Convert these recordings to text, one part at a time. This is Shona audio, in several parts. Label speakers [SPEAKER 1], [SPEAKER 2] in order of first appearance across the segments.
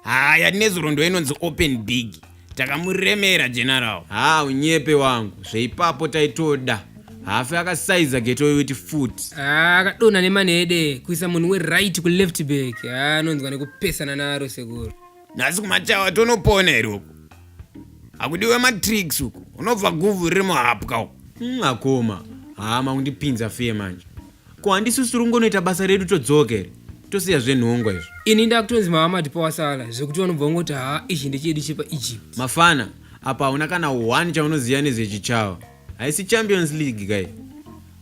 [SPEAKER 1] haya nezuro ndo inonzi open big takamuremera general ha unyepe wangu zveipapo taitoda hafe akasaiza geto yoyuti foot Ah, akadonha nemanhede kuisa munhu weright kuleft back Ah, anonzwa nekupesana naro sekuru nhasi kumachawa tonopona here uku hakudiwe matricks uku unobva guvhu riri muhapwa uku hmm, akoma haa makundipinza fee manje ko handisi usiri ungonoita basa redu todzoka here tosiya zvenhongwa izvo ini ndakutonzi mava matipa wasala zvekuti vanobva vangoti haa ichi ndechedi chepa egypt mafana apa hauna kana one chaunoziva nezvechichawa haisi champions league kai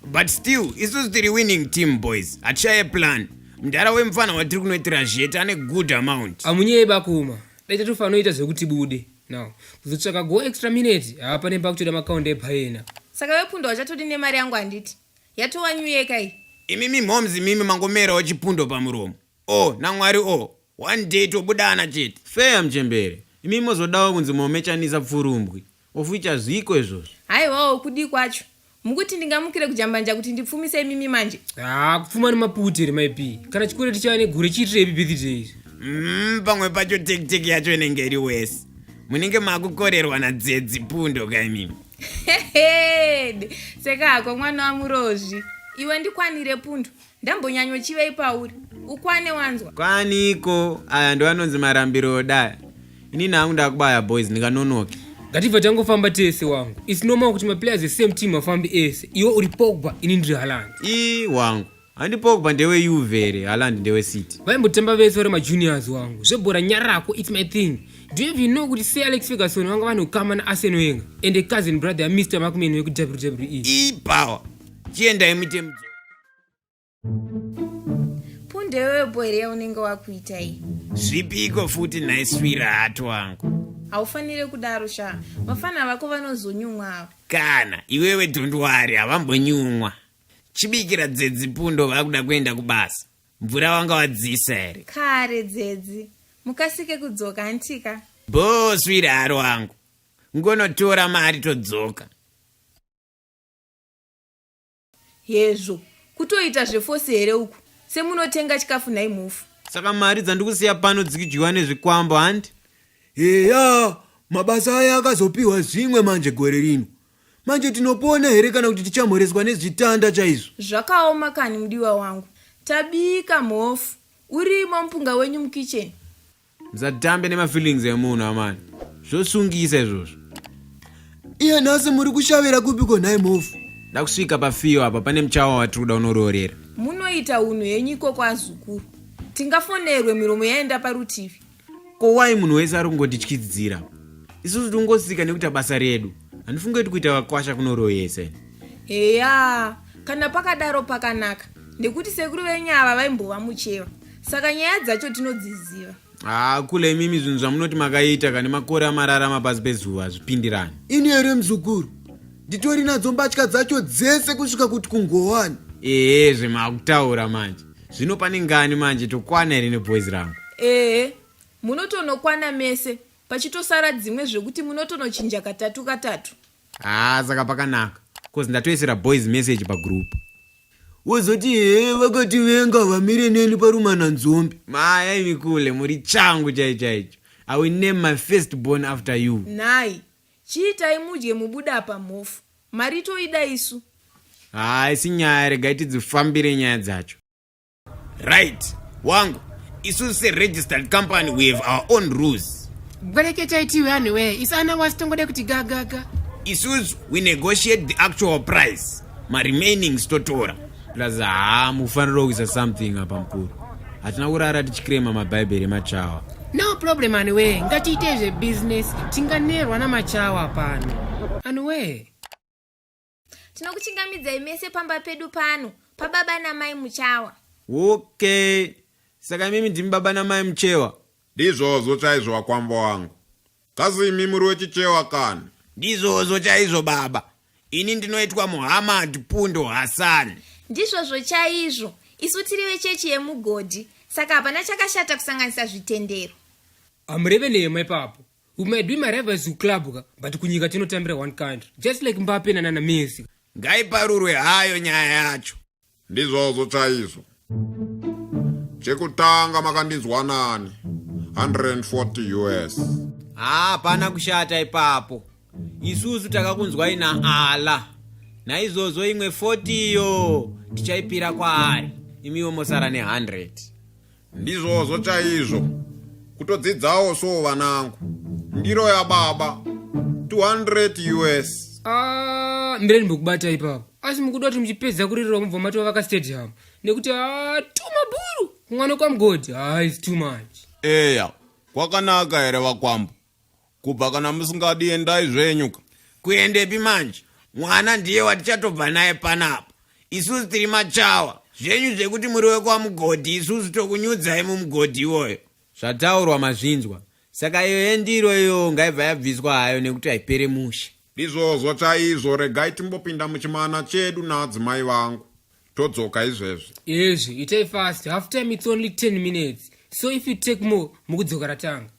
[SPEAKER 1] but still isusu tiri winning team boys hatishaye plan mdhara wemfana watiri kunoitira zvete ane good amount amunyeye bakuma daita tofanoita zvekuti bude now kuzotsvaka go extra minute haa pane pakutoda makaunde epaena saka vepunda wachatodi nemari yangu handiti yatowanyuyeka iyi imi mimhoms imimi mangomerawo chipundo pamuromo o oh, namwari o oh. one day tobudana chete fea mchembere imi mozodawo kunzi momechanisa pfurumbwi Of which hazviko izvozvo. Haiwawo kudii kwacho? Mukuti ndingamukire kujambanja kuti ndipfumise imimi manje? Haa kupfuma nemaputi here mai P. Kana chikwereti chava negure chiitirepi birthday izvi? Mm, pamwe pacho teki teki yacho inenge iri wesi. Munenge makukorerwa nadzedzi pundo ka imimi. Heheed, seka hako mwana wamurozvi. Iwe ndikwanire pundo. Ndambonyanyo chivei pauri. Ukwane wanzwa. Kwaniko aya ndo anonzi marambiro odaya. Ini nangu ndakubaya boys ndikanonoke. Ngatibva tangofamba tese wangu. It's normal kuti ma players the same team afambe ese. Iwe uri Pogba ini ndiri Haaland. Ii wangu. Handi Pogba ndewe Juve here Haaland ndewe City. Vaimbotamba vese vari ma juniors wangu. Zvebhora nyarako it's my thing. Do you even know kuti Sir Alex Ferguson vanga vane ukama na Arsenal yenga and a cousin brother ya Mr. Markman weku WWE. Ii power. Chiendai muite mudzi. ndewepo here yaunenge wakuita iyi zvipiko futi nhai swirahati wangu haufanire kudaro shaa vafana vako vanozonyumwa ava kana iwewe dhondwari havambonyumwa chibikira dzedzi pundo vakuda kuenda kubasa mvura wanga wadzisa here kare dzedzi mukasike kudzoka antika bhoo swirahari wangu ngonotora mari todzoka Hezvo. Kutoita zvefosi here uku? Semunotenga chikafu nhai mhofu. Saka mari dzandikusiya pano dzikidyiwa nezvikwambo handi? Heya, mabasa aya akazopiwa zvimwe manje gore rino. Manje tinopona here kana kuti tichamhoreswa nezvitanda chaizvo? Zvakaoma kani mudiwa wangu. Tabika mhofu. Urimo mupunga wenyu mukitchen. Musatambe nemafeelings emunhu amana. Zvosungisa izvozvo. Iye nhasi muri kushavira kupi ko nhai mhofu? Ndakusvika pafiyo apa pane muchawa watiri kuda unoroorera. Munoita unhu henyu ikoko azukuru. Tingafonerwe miromo yaenda parutivi. Ko why munhu wese ari kungotityisidzira? Isusu tingosika nekuita basa redu. Handifunge kuti kuita vakwasha kunoroyesa. Heya, kana pakadaro pakanaka nekuti sekuru venyu ava vaimbova mucheva. saka nyaya dzacho tinodziziva haa kule imimi zvinhu zvamunoti makaita kane makore amararama pasi pezuva hazvipindirani ini here mzukuru nditori nadzo mbatya dzacho dzese kusvika kuti kungowani ehe zvemakutaura manje zvino pane ngani manje tokwana here neboys rangu ehe munotonokwana mese pachitosara dzimwe zvekuti munotonochinja katatu katatu haa ah, saka pakanaka bcause ndatoisira boys message pagroup wozoti he vakati venga vamire neni parumana nzombi maya imi kule muri changu chai chaicho i will name my first born after you nhai chiitai mudye mubuda apa mhofu mari toida isu haa ah, isi nyaya regai tidzifambire nyaya dzacho right wangu isusu seregistered company we have our own rules bwereketai tiwe anhu wee isu ana wasi tongoda kuti gagaga isusu we negotiate the actual price maremainings totora plus haa mufanira kuisa something apa mukuru hatina kurara tichikirema mabhaibheri emachawa no problem anhu wee ngatiite zvebusiness tinganerwa namachawa pano anhu wee tinokuchingamidzai mese pamba pedu pano pababa namai muchawa okay saka imimi ndimi baba namai muchewa ndizvozvo chaizvo wakwambo wangu kasi imi muri wechichewa kani ndizvozvo chaizvo baba ini ndinoitwa muhammad pundo hasani ndizvozvo chaizvo isu tiri vechechi yemugodhi saka hapana chakashata kusanganisa zvitendero amureveneyemo ipapo We might be my rivals to club ka but kunyika tinotambira one country just like Mbappe na Nana Messi. Ngaiparurwe hayo nyaya yacho. Ndizvozvo chaizvo. Chekutanga makandinzwa nani? 140 US. Haa pana kushata ipapo. Isusu takakunzwai na Allah. Naizvozvo imwe 40 iyo tichaipira kwaari. Imiwo mosara ne 100. ndizvozvo chaizvo kutodzidzawo so vanangu ndiro yababa 200 us ah, mireni mukubata ipapo asi mukuda kuti muchipedza kuririra mubva matova vakastadium nekuti ah, tumaburu kumwana kwamgodi ah, is too much eya kwakanaka here vakwambo kubva kana musingadi endai zvenyu ka kuendepi manje mwana ndiye watichatobva naye panapa isusu tiri machawa zvenyu zvekuti muri wekwamugodhi isusu tokunyudzai mumugodhi iwoyo zvataurwa mazvinzwa saka iyo yendiro iyo ngaibva yabviswa hayo nekuti haipere mushe ndizvozvo chaizvo regai timbopinda muchimana chedu naadzimai vangu todzoka izvezvi ezvi itai fast half time its only 10 minutes so if you take more mukudzoka ratanga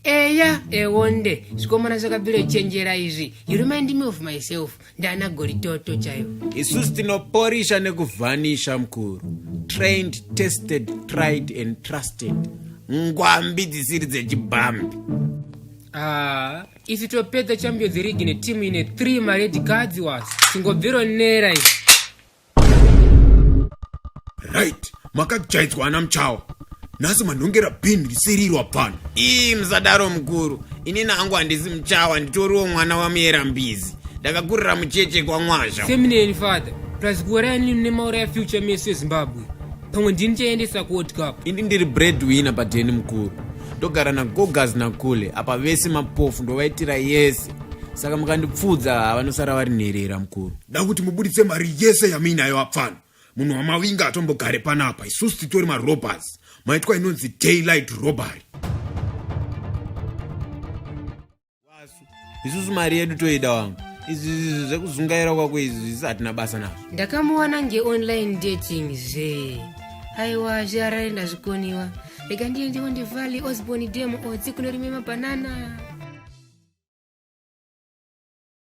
[SPEAKER 1] eya ewonde zvikomana zvakabviro chenjera izvi you remind me of myself ndana goritoto chaiyo isusu tinoporisha nekuvhanisha mukuru trained tested tried and trusted ngwambi dzisiri dzechibhambi ah, isu topedza champions league netimu ine 3 mared cards was tingobviro nera izvi right makajaidzwa ana muchawa nhasi manhongera bin risirirwa pano ii musadaro mukuru inini hangu handisi muchawa nditoriwo mwana wamuyera mbizi ndakakurira mucheche kwamwazha seminary father plus kuuraya nini mune maura ya future meso ezimbabwe pamwe ndini chaendesa kuworld cup ini ndiri bread winner padheni mukuru ndogara nagogas nakule apa vese mapofu ndovaitira yese saka mukandipfuudza havanosara vari nherera mukuru da kuti mubuditse mari yese yamuinayo apfana munhu wamavinga atombogare panapa isusu titori marobers maitwa inonzi daylight robbery isusu mari yedu toida wangu izvi zvekuzungaira kwako izvi isi hatina basa nazvo ndakamuwana ngeonline dating zve aiwa zviarare ndazvikoniwa rega ndiye ndiwo ndivali osborn demo otsi kunorime mabhanana